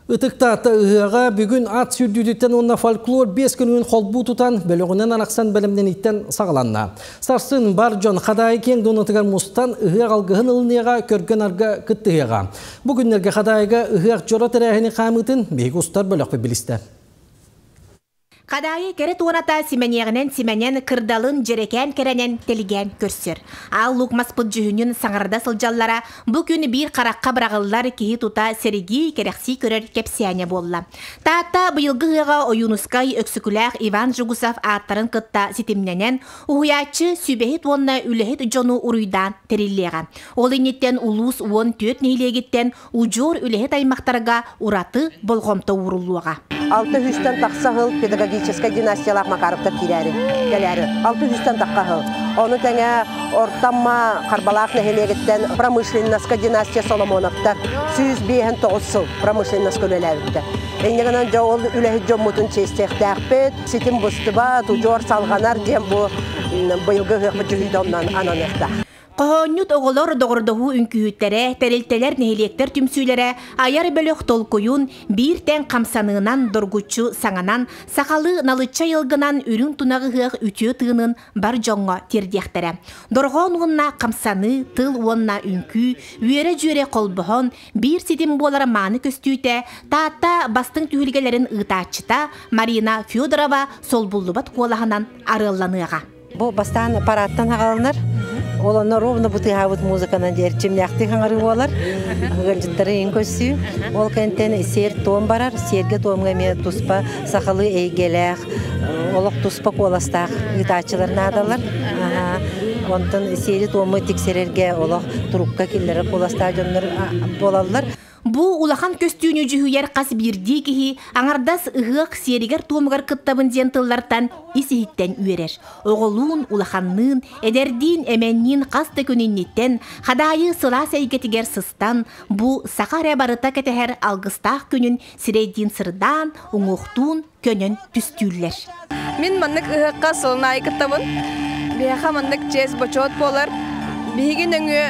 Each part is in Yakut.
Ытыктаата ыһыаҕа бүгүн ат сүүрдүүтүттэн уонна фольклор биэс күнүн холбуу тутан бөлөҕүнэн арахсан бэлэмнэниттэн саҕаланна. Сарсын бар дьон Хадаайы киэҥ дуонатыгар мустан ыһыах алгыһын ылыныаҕа, көргө-нарга кыттыһыаҕа. Бу күннэргэ Хадайга ыһыах дьоро тэрээһини хаамыытын биһиги устар бөлөхпүт билистэ. Хадаайы кэрэ туората симэниэҕинэн симэнэн, кырдалын дьэрэкээн кэрэнэн тэлгээн көрсөр. Аал луук маспыт дьүһүнүн саҥарда сылдьаллара бу күн биир харахха быраҕыллар киһи тута сэргии, кэрэхсии көрөр кэпсээнэ буолла. Таатта быйылгы ыһыаҕа Ойуунускай, Өксөкүлээх Иван Жугусов ааттарын кытта ситимнэнэн, уһуйааччы сүбэһит уонна үлэһит дьону уруйдаан тэриллиэҕэ. Ол инниттэн улуус уон түөрт нэһилиэгиттэн Удьуор үлэһит аймахтарга ураты болҕомто ууруллуоҕа. Алта үстэн тахса сыл педагогическай династиялаах Макаровтар киирээри кэлээри. Алта үстэн тахса сыл. Ону тэҥэ Ортамма Харбалаах нэһилиэгиттэн промышленноска династия Соломоновтар сүүс биэһэн тоҕус сыл промышленноска үлэлээбиттэр. Иннигинэн дьэ ол үлэһит дьоммутун чиэстиэхтээхпит. Ситим бустуба, тудьуор салҕанар диэн бу быйылгы ыһыахпыт дьүһүйдэ оннун ананыахтаах. Хоһоонньут оҕолор доҕордоһуу үҥкүүһүттэрэ, тэрилтэлэр, нэһилиэктэр түмсүүлэрэ айар бөлөх толкуйун биир тэҥ хамсаныынан доргуччу саҥанан, сахалыы налычча айылгынан үрүҥ тунах ыһыах үтүө тыынын бар дьоҥҥо тиэрдиэхтэрэ. Дорҕоон уонна хамсаныы, тыл уонна үҥкүү, үөрэ-дьүөрэ холбоһон, биир ситим буолар мааны көстүүтэ Таатта бастыҥ түһүлгэлэрин ыытааччыта Марина Федорова солбуллубат куолаһынан арыалланыаҕа. Бу бастаан парадтан хагалынар, олонор ровно бытыаһабыт музыканан диэр чимнээхтик хаңары буолар. Ыганжыттары иин көссүү. Ол кэнтен сиэр туом барар, сиэргэ туомга эмиэ туспа сахалыы эйгэлээх, олох туспа куоластаах ыытааччылар наадалар. Онтон сиэри туому тиксерерге олох турукка киллэрэр куоластаах дьоннор буолаллар. Бу улахан көстүүнү дьүһүйэр хас биирдии киһи аҥардас ыһыах сиэригэр-туомугар кыттабын диэн тыллартан ис-иһиттэн үөрэр. Оҕолуун, улаханныын, эдэрдиин, эмэнниин хас да күн инниттэн Хадаайы сылаас эйгэтигэр сыстан, бу саха эрэ барыта кэтэһэр алгыстаах күнүн сирэйдиин сырдаан, уҥуохтуун, көнөн түстүүллэр. Мин маннык ыһыахха сылын аайы кыттабын. Биһиэхэ маннык чиэс бочуот буолар. Биһиги нөҥүө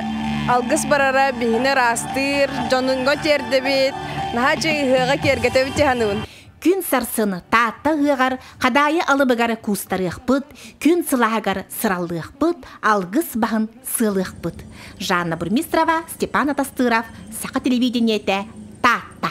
алгыс барара биһини ыраастыыр, дьонуҥҥа тиэрдэбит. Наһаа дьиэ ыһыаҕа киэргэтэбит дьаһаныбын. Күн сарсын Таатта ыһыаҕар Хадайы алыбыгар куустарыахпыт, күн сылааһыгар сыраллыахпыт, алгыс баһын сыалыахпыт. Жанна Бурмистрова, Степан Атастыров, Саха телевидениетэ, Таатта.